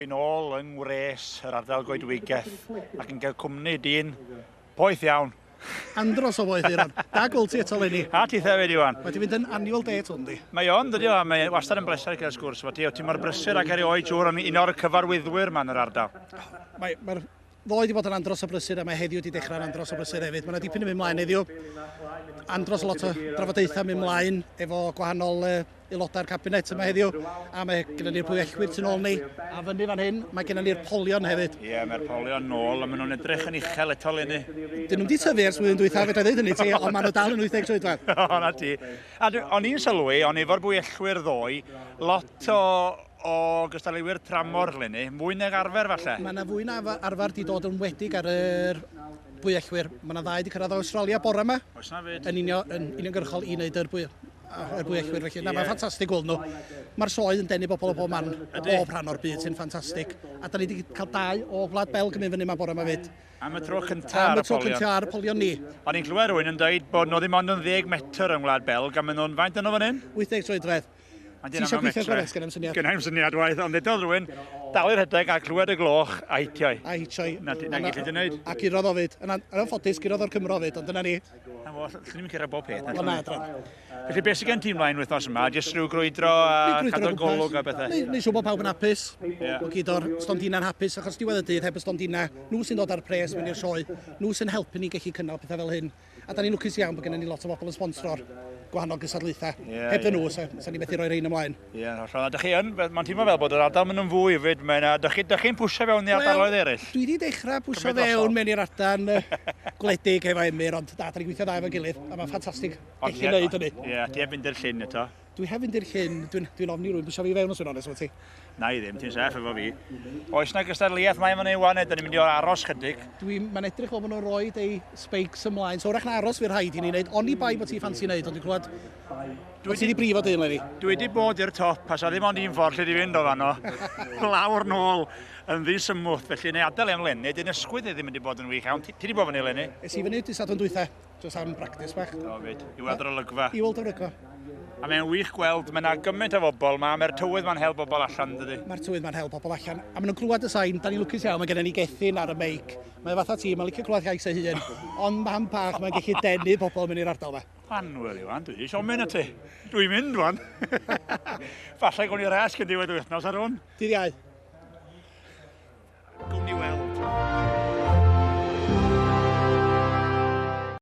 yn ôl yng ngwres yr ardal goedwigeth ac yn cael cwmni dyn poeth iawn. Andros o boeth, Euron. Da gweld ti eto leni. A ti hefyd, Iwan. Mae ti fynd yn annual day eto, yndi? Mae o'n dydio, a mae wastad yn bleser cael sgwrs fo ti. O ti mor brysur ac erioed siŵr yn un o'r cyfarwyddwyr ma'n yr ardal. Mae, mae'r Ddoe 'di bod yn Andros o Brysur a mae heddiw 'di dechrau'n Andros o Brysur hefyd. Mae yna dipyn yn mynd mlaen heddiw. Andros o lot o drafodaethau mynd mlaen efo gwahanol uh, aelodau'r cabinet yma heddiw, a mae gennym ni'r pwyellwyr tu ôl ni, a fyny fan hyn, mae gennym ni'r polion hefyd. Ie, yeah, mae'r polion nôl, a maen nhw'n edrych yn uchel eto lenni. Dyn nhw'n di tyfu ers flwyddyn dwytha, fedra i ddweud hynny ti, ond maen nhw dal yn 80 troedfedd. o, na ti. A o'n i'n sylwi, o'n efo'r bwyellwyr ddoe, lot o o gystadleuwyr tramor eleni, mwy nag arfer falle? Mae yna fwy na arfer 'di dod yn wledig ar yr bwyellwyr. Mae yna ddau wedi cyrraedd o Awstralia bore yma. Oes na fyd? Yn unio, yn uniongyrchol i wneud yr bwy, yr bwyellwyr felly. Na, mae'n ffantastig gweld nhw. Mae'r sioe yn denu bobl o bob man, o bob rhan o'r byd sy'n ffantastig. A da ni wedi cael dau o Gwlad Belg yn mynd fyny yma bore yma fyd. Am y tro cyntaf ar y polion? Am y tro cyntaf ar y polion ni. O'n i'n clywed rhywun yn dweud bod nhw ddim ond yn ddeg metr yng Ngwlad Belg a maen nhw'n faint dyn nhw fan hyn? 80 troedfedd. Ti eisiau gweithio gorau, sgan i'm syniad. Sgan i'm syniad waith, ond eto rhywun, dalu rhedeg a clywed y gloch a hitio'i. A hitio'i. Na, ti'n gallu ti'n neud. A gurodd o fyd. Yn anffodus, gurodd o'r Cymro fyd, ond dyna ni. Na fo, llwn ni'n cyrra bob peth. Ond na, dron. Felly, beth sy'n gen ti'n mlaen wythnos yma? Jyst rhyw grwydro a cadw'r golwg a bethau? Neu siw bod pawb yn hapus. Yeah. O gyd o'r stondina'n hapus, achos diwedd y dydd heb y stondina, nhw sy'n dod ar pres mewn i'r sioe, nhw sy'n helpu ni gallu cynnal pethau fel hyn. A da ni'n lwcus iawn bod gennym ni lot o bobl yn sponsro'r gwahanol gystadlaethau. Yeah, Heb dyn nhw, yeah. sa, sa ni methu rhoi rhain ymlaen. Ie, yeah, hollol. A dych chi yn, mae'n teimlo fel bod yr ardal mynd yn fwy hefyd. Mae'n, a dych chi, dych chi'n pwysio fewn i ardaloedd eraill? Dwi wedi dechrau pwysio fewn mewn i'r ardal gwledig efo Emyr, ond da, da ni'n gweithio dda efo'n gilydd, a mae'n ffantastig. Ond chi wneud hynny. Ie, yeah, ti heb fynd i'r llyn eto. Dwi hefyd i'r hyn, dwi'n dwi ofni rwy'n bwysio fi fewn os yw'n onest efo ti. Na i ddim, ti'n saff efo fi. Oes na gystadleuaeth mae fan ei wan, neu da ni'n mynd i o'r aros chydig? Dwi, mae'n edrych fel bod nhw'n rhoi ei speics ymlaen, so wrach na aros fi'r rhaid i ni wneud, oni bai bod ti ffansi wneud, ond dwi'n clywed... Dwi wedi di brifo dyn, Lefi. Dwi wedi bod i'r top, a sa ddim ond un ffordd lle di fynd o fanno. Lawr nôl yn ddisymwth, felly neu adael e'n lenni, dyn ysgwyd ei ddim wedi bod yn wych iawn. Ti wedi bod fyny, Lenni? Es i fyny dydd Sadwrn dwytha. Just am practice bach. O, fyd. I weld yr olygfa. I weld yr olygfa. A mae'n wych gweld, mae yna gymaint o bobl yma, mae'r tywydd mae'n help bobl allan, dydy? Mae'r tywydd mae'n help bobl allan. A maen nhw'n clywed y sain, da ni'n lwcus iawn, mae gennym ni gethyn ar y meic. Mae fatha ti, mae'n licio clywed gais ei hun. Ond mam bach, mae'n gallu denu pobl mynd i'r ardal yma. Anwyl, Iwan, dwi eisiau mynd at ti. Dwi'n mynd, Iwan. Falle gwn i'r resg yn diwedd wythnos ar hwn. Dydd iau. Gwmni weld.